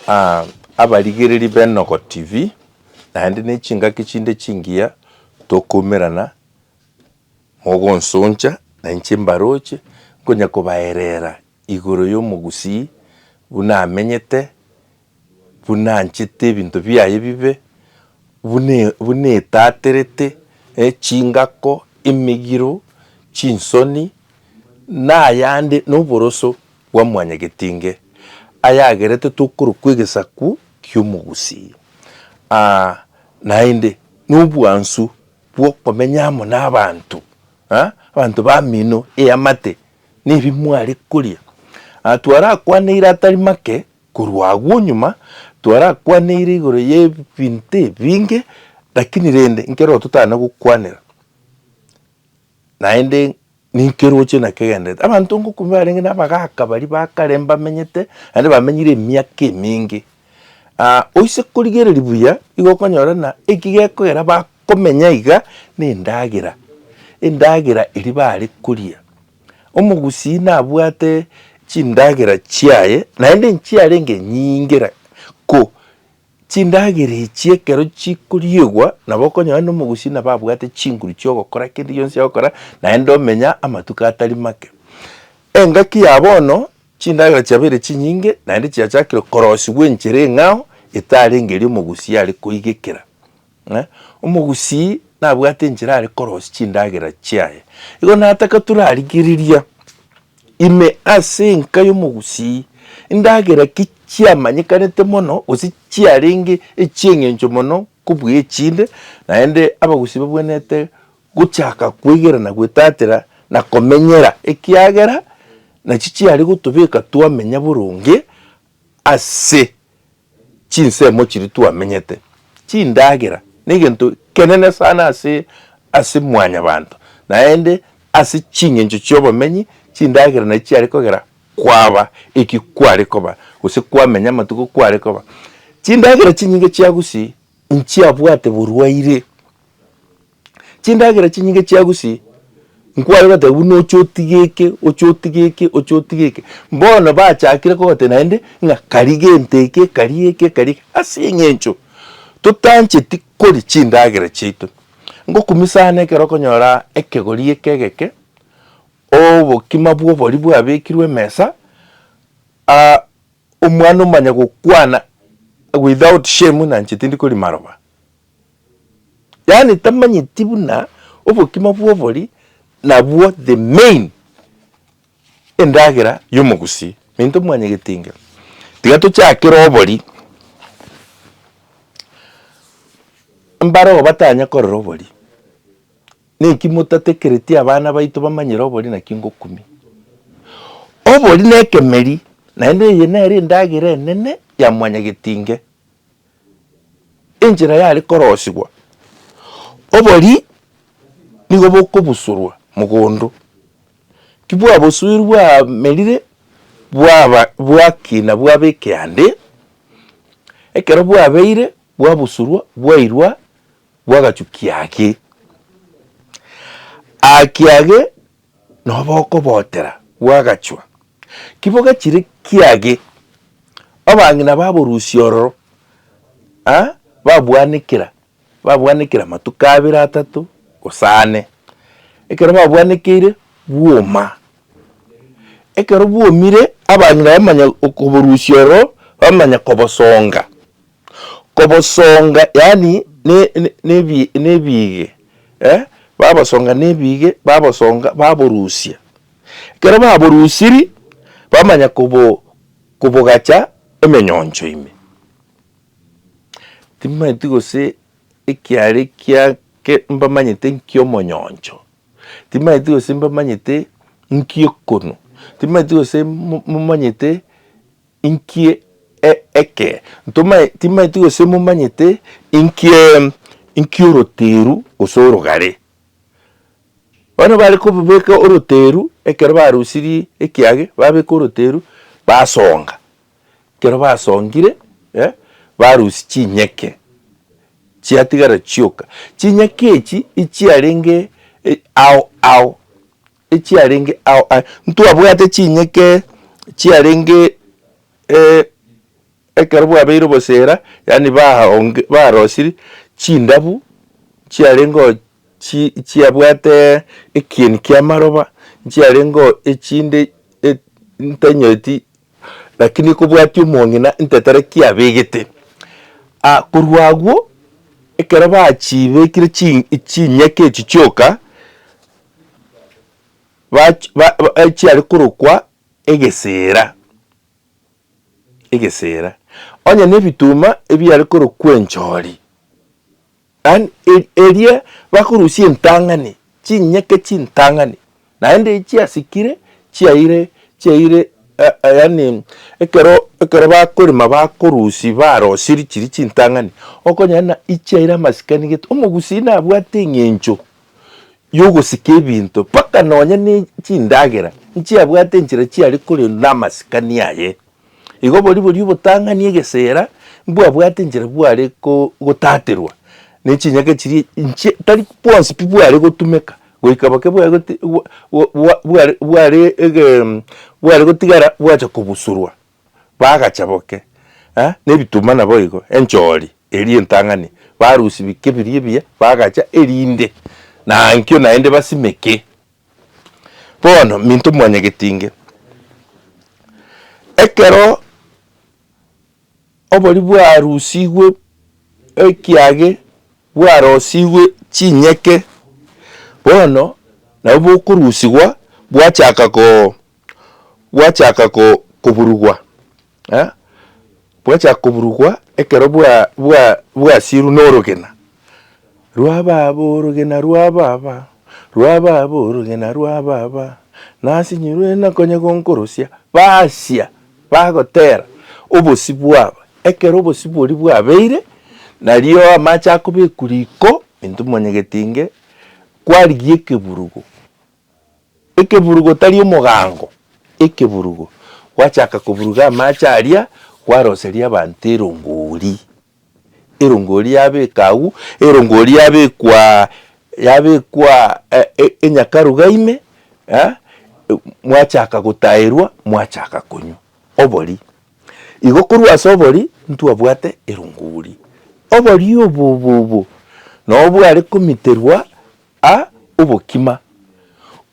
Aa, abarigereri b'Enogo TV, naende nechingaki chinde chingiya tokoumerana, mogonsoncha, nainche mbaroche nkonya kobaerera igoro y'omogusii buna amenyete, buna anchete ebinto biaye bibe, buna buna etaterete, eh, chingako, emegiro, chinsoni, nayande, noboroso, bwa mwanyagetinge, ayagerete tokorwa kw'egesaku ki'omogusii, aa, naende nobwansu bw'okomenya amo nabanto, aa, abanto bamino eamate nebi mware koria. Aa, twarakwaneire atari make korwa agwo nyuma, twarakwaneire igoro y'ebinto ebinge, lakini rende nkeroo totana gokwanera, naende Ninki eroche na kegenderete? Abanto ngokumi barenge nabagaaka baria ba kare mbamenyete, naende bamenyire emiaka eminge. Ah, oise korigereria buya, igo okonyora ng'a eki gekogera bakomenya iga, nendagera, endagera eria bare koria. Omogusii nabwate chindagera chiaye, naende nchiarenge nyinge ko Chindagera echi ekero chikoriigwa, nabo okonyora aye nomogusi nabo abwate chinguru chi'ogokora kende gionsi agokora, naende omenya amatuko atari make. Engaki ya bono, chindagera chiabeire chinyinge, naende chiachakire korosigwa enchera eng'ao, etarenge eria omogusi are koigekera. ng'a omogusii nabwate enchera are korosia chindagera chiaye, igo nataka torarigereria ime ase enka y'omogusii indagera ki chiamanyekanete mono gose chiarenge echi'eng'encho mono kobua echinde, naende abagusii babwenerete gochaka kweigerana gwetatera na komenyera ekiagera nachi chiare gotobeka twamenya boronge ase chinsemo chiria twamenyete, chindagera negento kenene sana ase ase mwanyabanto, naende ase chingencho chiobomenyi chindagera nachi chiare kogera kwaba eki kware koba gose kwamenya amatuko kware koba. Chindagera chinyinge chiagusie inchiabwate borwaire. Chindagera chinyinge chia gusii, nkware goteba buna oche otige eke, oche otige eke, oche otige eke. Bono bachakire kogoteba naende ng'a kari gento eke, kari eke, kari eke. Ase eng'encho totancheti koria chindagera chiaito. Ngokumia sana ekero okonyora ekegori eke egeke, obokima bwa obori bwabekirwe emesa, omwana omanye gokwana without shame ng'a inche tindi koria maroba. Yaani tamanyeti buna obokima bwobori nabwo the main endagera yomogusii minto mwanye getinge tiga tochakere obori mbare oo batanya korora obori naki motatekereti abana baito bamanyere obori naki ngokumia obori nekemeri naende eye nere endagera enene ya mwanyagetinge. enchera yare korosigwa, obori nigo bokobusorwa mogondo, ki bwabosoirwe bwamerire bwaba bwakina bwaba ekeande, ekero bwabeire bwabusorwa bwairwa bwagachukia ake. Ake age nobokobotera bw'agachwa, kibogachire kiage abang'ina baborusia ororo, a babwanekera babwanekera amatuko abere atato gose ane, ekero babwanekeire bwoma. Ekero bwomire abang'ina bamanya okoborusia ororo bamanya kobosonga. kobosonga yaani ne, ne, nebi, nebige eh? babosonga nebige babosonga baborusia ekero baborusiri bamanya kobo kobogacha emenyoncho ime timanyeti gose ekiare kia ke mbamanyete nki omonyoncho timanyeti gose mbamanyete nki ekonu timanyeti gose mo momanyete. Inki eke? Ntoma, timaeti gose momanyete inki inki oroteru gose orogare. Bono bare kobobeka oroteru ekero barusirie ekiage babeka oroteru basonga, ekero basongire eh barusia chinyeke chiatigara chioka. Chinyeke echi echiarenge ao ao. echiarenge ao aye, ntwabwate chinyeke chiarenge eh, ekero bwabeire obosera, yaani baonge barosiri chindabu chiarengeo chi chiabwate ekieni ki'amaroba, nchiarengeo echinde e ntanyeti lakini kobwati omong'ina ntetera kiabegete. Ah korwa agwo, ekero bachibekire chi chinyeke echi chioka, bach ba chiare korokwa egesera, egesera, onye na ebituma ebiare korokwa enchori, yaani e- eria bakorusia entang'ani, chinyeke chintang'ani, naende echi chiasikire chiaire chiaire ya- ya- yaani ekero ekero bakorema bakorusia barosirie chiria chintang'ani, okonyora buna ichiaire amasikani gete, omogusii nabwate eng'encho yogosika ebinto, mpaka nonye ne chindagera nchiabwate enchera chiare kore namasikani aye. Igo boria boria obotang'ani egesera mbwabwate enchera bware gotaterwa ne chinyake chiria inche tari bwonsi pi bware gotumeka goika boke bware bware bware gotigara bwacha kobusorwa. bagacha boke nebituma naboigo enchori eria entang'ani barusia bike biria ebiya bagacha erinde nankio naende basimeke. Bono minto mwanyagetinge ekero obori bwarusigwe ekiage bwarosigwe chinyeke bono nabo bokorusigwa bwachaka ko. bwachaka ko, koburugwa, eh, bwachaka koburugwa ekero bwa, bwa, bwasirwe norogena rwa baba, orogena rwa baba, rwa baba, orogena rwa baba, nasinyirwe na konya gonkorosia, baasia, bagotera obosio bwabo. Ekero obosio boria bwabeire, nario amache akobekwa riko, intwe mwanyagetinge kwarigia ekeburugo, Ekeburugo otari omogaango, ekeburugo, gwachaaka koburuga amaache aria, gwaroseria abanto erongori, erongori yabeeka agwo, erongori yabekwa yabekwa enyakaruga ime, mwachaaka gotaerwa, mwachaaka konywa obori. Igo korwa ase obori, ntwabwate erongori. Obori obo obo obo, nabwo bware komiterwa A obokima,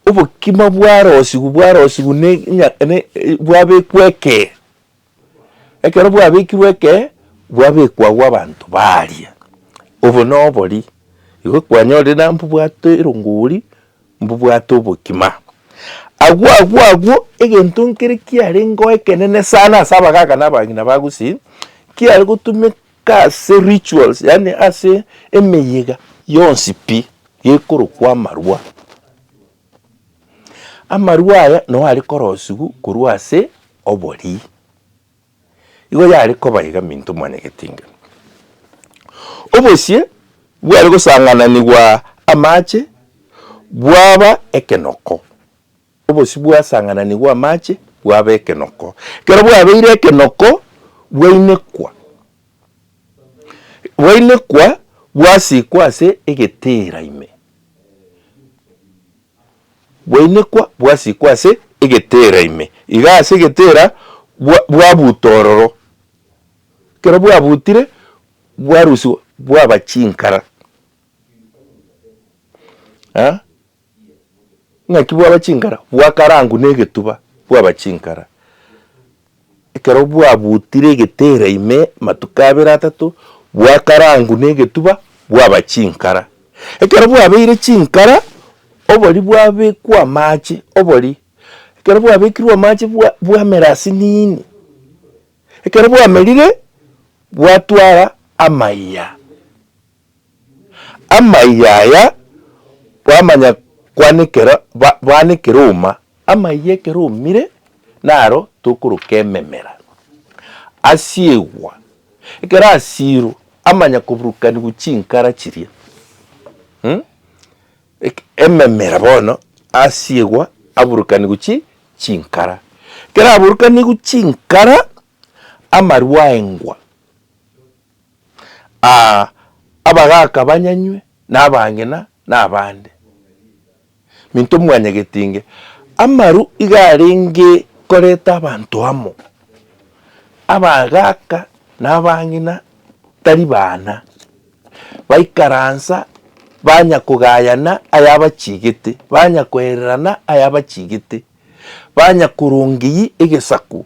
obokima bwarosigwe, bwarosigwe ne ng'a ne bwabekwa ekee. Ekero bwabekirwe ekee, bwabekwa agwo abanto baria, obo na obori, igo kwanyorire na mbobwate erongori, mbobwate obokima. Agwo agwo agwo, egento nkere kiarenge ekenene sana ase abagaaka na abagina ba Gusii, kiare gotuma Ase rituals, yaani ase emeyega yonsi pi gekorokwa amarwa. Amarwa aya nao are korosigwa korwa ase oborii. Igo yare koba iga minto mwane getinga. Obosie bware gosang'ananigwa amache bwaba ekenoko. Obosio bwasang'ananigwe amache bwaba ekenoko. Ekero bwabeire ekenoko, bwainekwa. Bwainekwa bwasikwa ase egetera ime. Bwainekwa bwasikwa ase egetera ime. Iga ase egetera bwabuta ororo. Ekero bwabutire bwarusigwa bwaba chinkara. Ing'aki bwaba chinkara bwakarangwa negetuba bwaba chinkara, ekero bwabutire egetera ime amatuko abere atato bwakarangwa negetuba bwaba chinkara. Ekero bwabeire chinkara obori bwabekwa amache obori, ekero bwabekirwe amache bwamera ase nini, ekero bwamerire bwatwara amaiya. Amaiga aya bwamanya kwanekera bwanekera ouma, amaiga ekero oumire naro tokoroka ememera asiegwa ekero asirwe amanya koburukanigwa chinkara chiria mh ememera bono asiegwa aburukanigwe chi chinkara ekero aburukanigwe chinkara amarwa aengwa. Aa, abagaaka banyanywe nabang'ina nabande. Minto mwanyageti inge. Amaru iga arenge koreta abanto amo. Abagaaka nabang'ina tari baana. Baikaransa banya kogayana ayabachigete, banya koererana ayabachigete, banya korongeyia egesaku.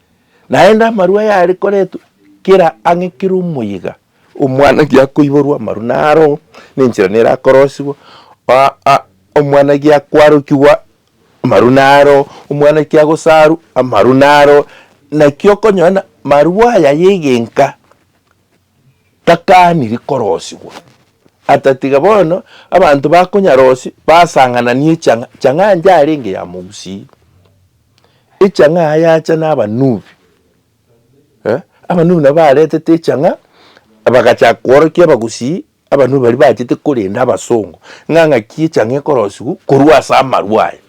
Naende amaru aya are koretwa kera ang'e kera omoyega omwanagi akoiborwa amaru naro nenchera nere akorosigwa, omwanagi akwarokigwa amaru naro, omwanaki agosaru amaru naro, naki okonyora marwo aya yegenka takaniri korosigwa atatiga bono abanto bakonyarosia basang'anani echang'a chang'a njarenge ya mogusii. Echang'aa yacha nabanubi, eh, abanubi nabo baretete echang'aa, bagachaka kworokia abagusii, abanubi baria bachete korenda abasongo, ng'a ng'aki echang'aa ekorosigwa korwa ase amarwa aya,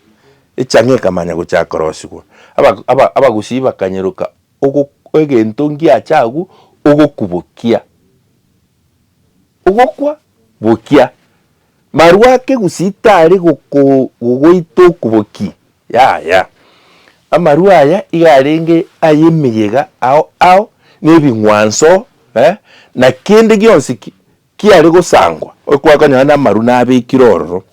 echang'aa ekamanya gochaka korosigwa. Aba- aba- abagusii bakanyeroka ogo egento ngiacha agwo ogokubokia, ogokwa bokia. Marwa ake gusii tari gogoita okuboki, yaya. Amarwa aya iga arenge ay'emeyega ao ao, na ebing'wanso, na kende gionsi kiare gosangwa, okwakonyora namarwa nabekire ororo,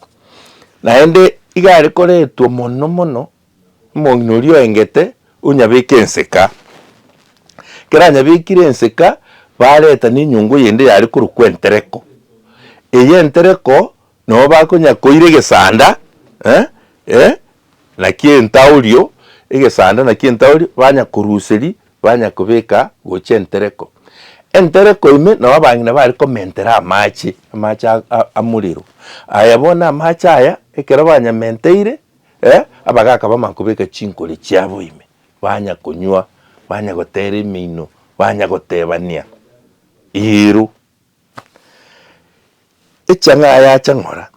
naende iga are koretwa mono mono. Omong'ina oria oengete onyabeke enseka. Ekero anyabekire enseka, bareta nenyungu eyende yare korokwa entereko. Eye entereko nabo bakonya koira egesanda naki entaorio, egesanda naki entaorio banya koruseri banya kobeka gocha entereko. Entereko ime nabo abang'ina bare komentera amache, amache amorero. Aya bono amache aya ekero banyamenteire, Ee, abagaaka bamanya kobeka chinkori chiabo ime, bamanya konywa, bamanya goteera emeino, bamanya goteebania eeru. Echang'aa yacha ng'ora,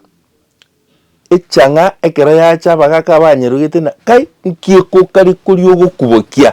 echang'aa ekero yacha abagaaka abanyerogetie ng'a kai, nki ekokari koria ogokubokia?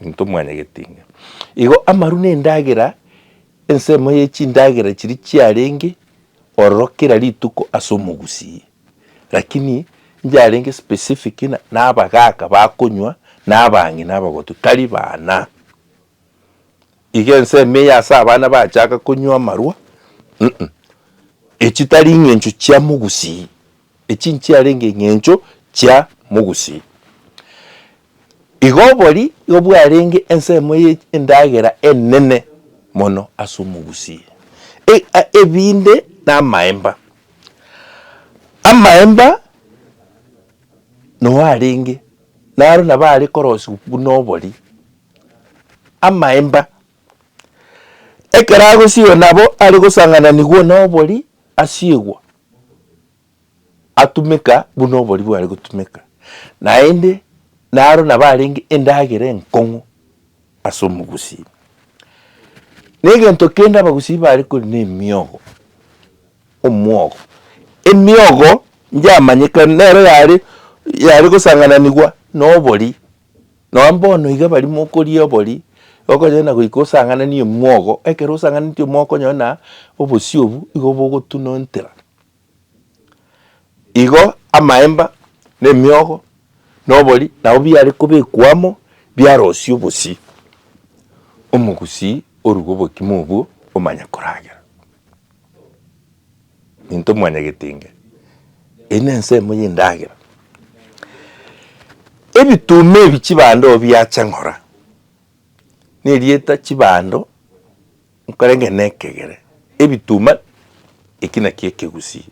Intwe mwanyagetinga. Igo amaru nendagera, ensemo ye chindagera chiria chiarenge ororo kera rituko ase omogusii. Lakini njarenge specific ng'a nabagaaka bakonywa, nabang'ina abagotu, tari baana. Igo ensemo eye ase abana bachaka konywa amarwa, uh-uh, echi tari ing'encho chia mogusii. Echi nchiarenge eng'encho chia mogusii. Igo obori igo bwarenge ensemo ye endagera enene mono ase omogusii. E, a, ebinde namaemba. Amaemba nao arenge, naro nabo are korosigwa buna obori. Amaemba, ekero agosigwa nabo are gosangananigwa na obori, asiegwa. atumeka buna oboria bware gotumeka, naende naro nabo arenge endagera enkong'u ase omogusii. Na egento kende abagusii bare kori na emiogo, omwogo. Emiogo nchiamanyekana nero yare yare gosangananigwa na oboria. Nonya mbono iga baria mokoria obori, okonyora na goika osang'anani omwogo, ekero osang'aneti omwogo okonyora na obosio obwo igo bogotuna entera. Igo amaemba, na emiogo, na obori nabo biare kobekwa amo, biarosia obosio, omogusii orue gobokima obwo omanye koragera. Intwe mwanyagetinga, eye nensemo y'endagera. Ebituma ebi chibando biacha ng'ora, nerieta chibando nkorenge na ekegere, ebituma eki nakio ekegusii.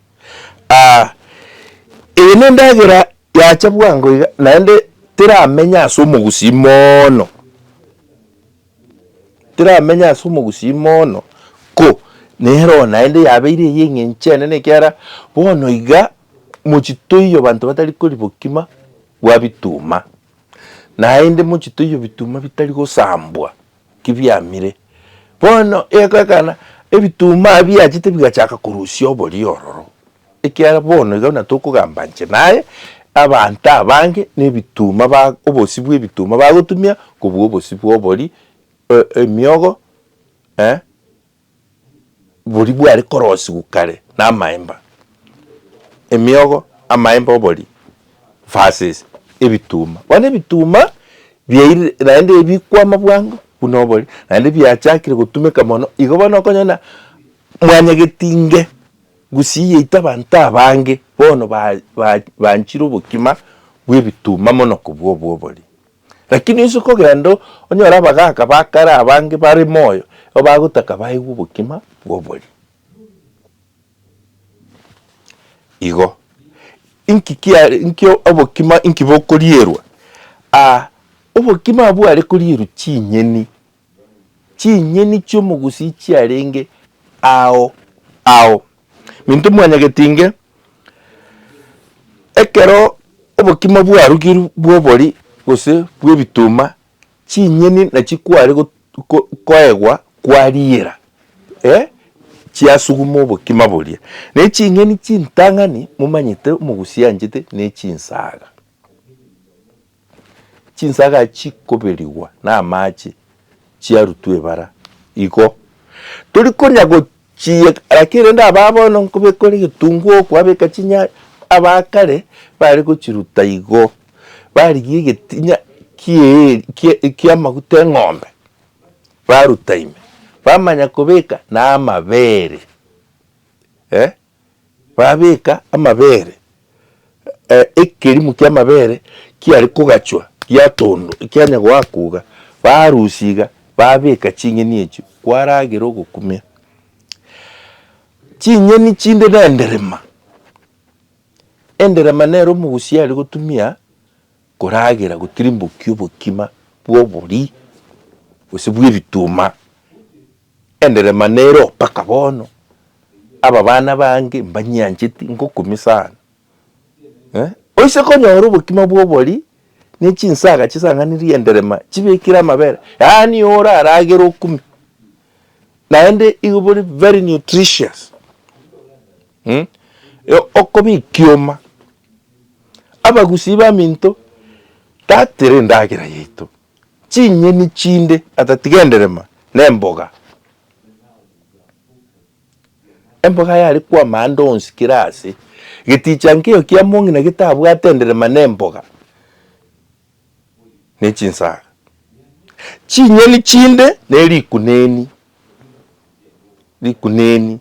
Eye nendagera yacha bwango iga, naende teramenya ase omogusii moono. Tiramenya ase omogusii mono, ko nere oo naende yabeire eyio eng'encho enene ekiagera bono iga mochie toiyo abanto batari koribokima bwa bituma, naende mochie toiyo bituma bitari gosambwa ki biamire. Bono egoekana ebituma biachete bigachaka korusia oborio ororo, Ekiagera bono iga buna tokogamba inche naye, abanto abange nebituma ba obosio bw'ebituma bagotumia kobua obosio bw'obori, e- emiogo, eh, boria bware korosiwa kare na amaemba. Emiogo, amaemba obori versus ebituma. Bono ebituma biairire naende ebi bikwama bwango buna obori, naende biachakire gotumeka mono, igo bono okonyora buna mwanyagetinge. Gusii yaito abanto abange bono banchire obokima bw'ebituma mono kobua obw'obori. Rakini onsi kogenda onyore abagaaka ba kare abange bare moyo igo bagotaka baigwe obokima bw'obori. Igo, inki obokima inki bokorierwa? Aa, obokima abwo are korierwa chinyeni chinyeni chi'omogusii chiarenge ao ao. Minto mwanyageti inge, ekero obokima bwarugirwe bw'obori gose bw'ebituma, chinyeni nachio kware go ko koegwa kwariira eh chiasuguma obokima boria. Ne chinyeni chintang'ani momanyete omogusii anchete ne chinsaga. Chinsaga chikoberigwa namache chiarutwa ebara, igo tori konya gochiyeka, lakini rende aba bono nkobekora egetunguo okwabeka chinyanya, aba kare bare gochiruta igo, barigia egetinya kie kie kiamaguta eng'ombe, baruta ime, bamanya kobeka namabere eh. Babeka amabere, ekerimo ki'amabere kiare kogachwa giatondo ekianya goakoga, barusia iga babeka ching'eni echio kwaragera ogokumia. Ching'eni chinde na enderema, enderema nero omogusii are gotumia koragera gotirimbokia obokima bw'oborii gose bw'ebituma. Enderema nere oo mpaka bono, ababana bange mbanyiancheti ngokumia sana. Oise konyora obokima bwa obori ne chinsaga chisang'anirie enderema chibekire amabere, yaani ore aragere okumia, naende igo bori very nutritious. Okoba ekioma, abagusii baminto, tatera endagera yaito, Chinyeni chinde atatiga enderema nemboga. Emboga yare kwama ande onsi kera aase. Geticha nkeiyo kia mong'ina getabwate enderema nemboga, nechinsaga. Chinyeni chinde nerikuneni, rikuneni.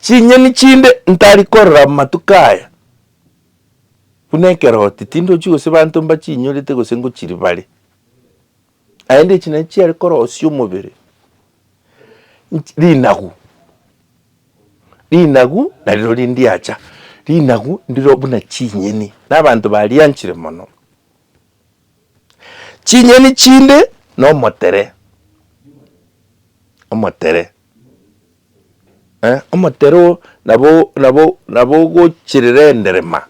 Chinyeni chinde ntari korora matuko aya, buna ekeroti, tindochi gose banto mbachinyorete gose ngochiribare, naende echi nachi chiare korosia omobere rinagu, rinagu nariro rindiacha, rinagu ndiro buna chinyeni, na abanto barianchire mono. Chinyeni chinde na omotere, omotere Omotero nabogochirera enderema,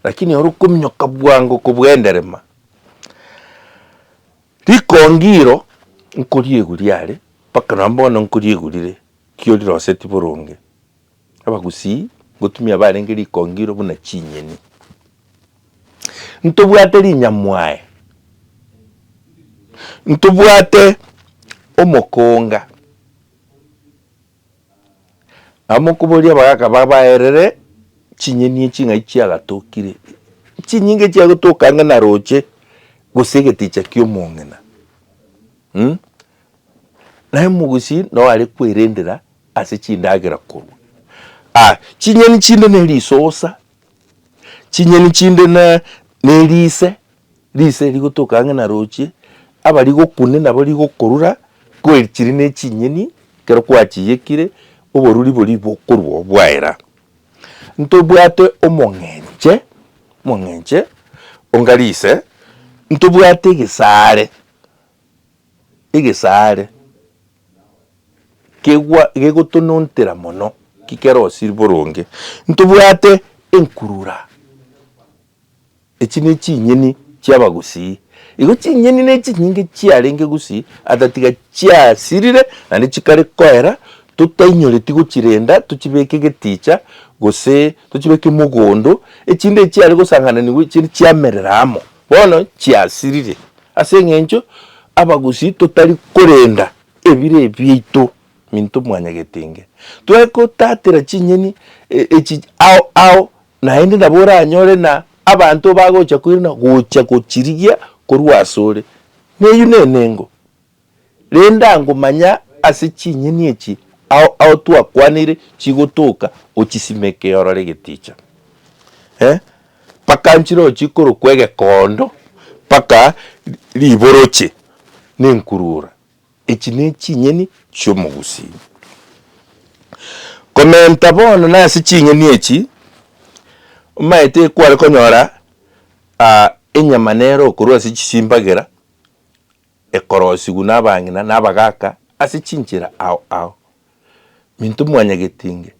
lakini oro okominyoka bwango kobua enderema. Rikongi iro nkoriegwa riare, mpaka nonye bono nkoriegurire, kio riroseti boronge. Abagusii ngotumia barenge rikongiro buna chinyeni. Ntobwate rinyamwae, ntobwate omokonga, amokoboria abagaka babaerere chinyeni echi ng'ai chiagatokire, chinyinga echi chiagotoka ang'e na roche, gose egeticha ki'omong'ina. Naye omogusii nao are kwerendera ase chindagera korwa aa, chinyeni chinde ne risosa, chinyeni chinde na ne rise, rise rigotoka ang'e na rochie, abarigokune nabo rigokorura, kweri chiri ne chinyeni ekero kwachiyekire, oboruri boria bokorwa obwaera. Ntobwate omong'enche, omong'enche onga rise, ntobwate egesare, egesaare kegwa gegotonontera mono ki kerosiri boronge, ntobwate enkurura. Echi ne chinyeni chia abagusii. Igo chinyeni ne chinyinge chiarenge gusii ata tiga chiasirire naende chikare koera totainyoreti gochirenda tochibeke geticha gose tochibeke mogondo, echinde echiare gosangananigwa echiria chiamerera amo. Bono chiasirire, ase engencho abagusii totari korenda ebire biaito minto mwanyagete inge. Tware gotatera chinyeni echi ao ao naende nabo oranyore na abanto bagocha koirana gocha gochirigia korwa asore. Neyio nenengo. rende ango manya ase chinyeni echi ao ao twakwanire chigotoka ochisimeke orore egeticha eh mpaka nchire ochikorokwa egekondo mpaka riboroche ne enkurura echi ne echinyeni chia omogusii. Komenta bono na ase chinyeni echi omanyete ekware konyora ah enyama nero okorwa ase chisimbagera Ekorosigwa nabang'ina na abagaaka ase chinchera ao ao. Minto mwanyageti inge,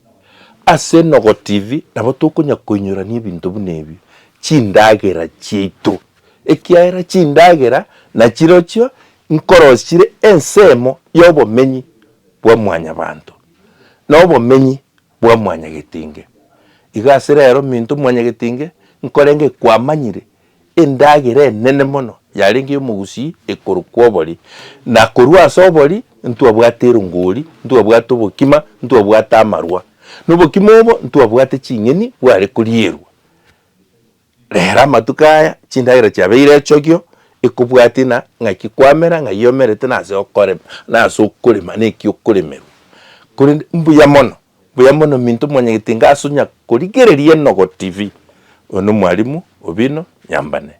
ase Enogo TV nabo tokonya koinyorania ebinto buna ebio, chindagera chiaito, ekiagera chindagera nachirochio nkorosi chire ensemo y'obomenyi bwa mwanyabanto, na obomenyi bwa mwanyagetinge. Igo ase rero minto mwanyagetinge nkorenge kwamanyire endagera enene mono yarenge y'omogusii ekoro kw'obori, na korwa ase obori ntwabwate erongori, ntwabwate obokima, ntwabwate amarwa. Nobokima obo ntwabwate ching'eni bware korierwa. Rero amatuko aya chindagera chiabeire echokio, ekobwatia na ng'aki kwamera, ng'ai omerete na ase okorema, na ase okorema na eki okoremerwa. Korende mbuya mono, mbuya mono minto mwanyagete inga ase onya korigereria enogo TV, oyo no mwalimu obino nyambane.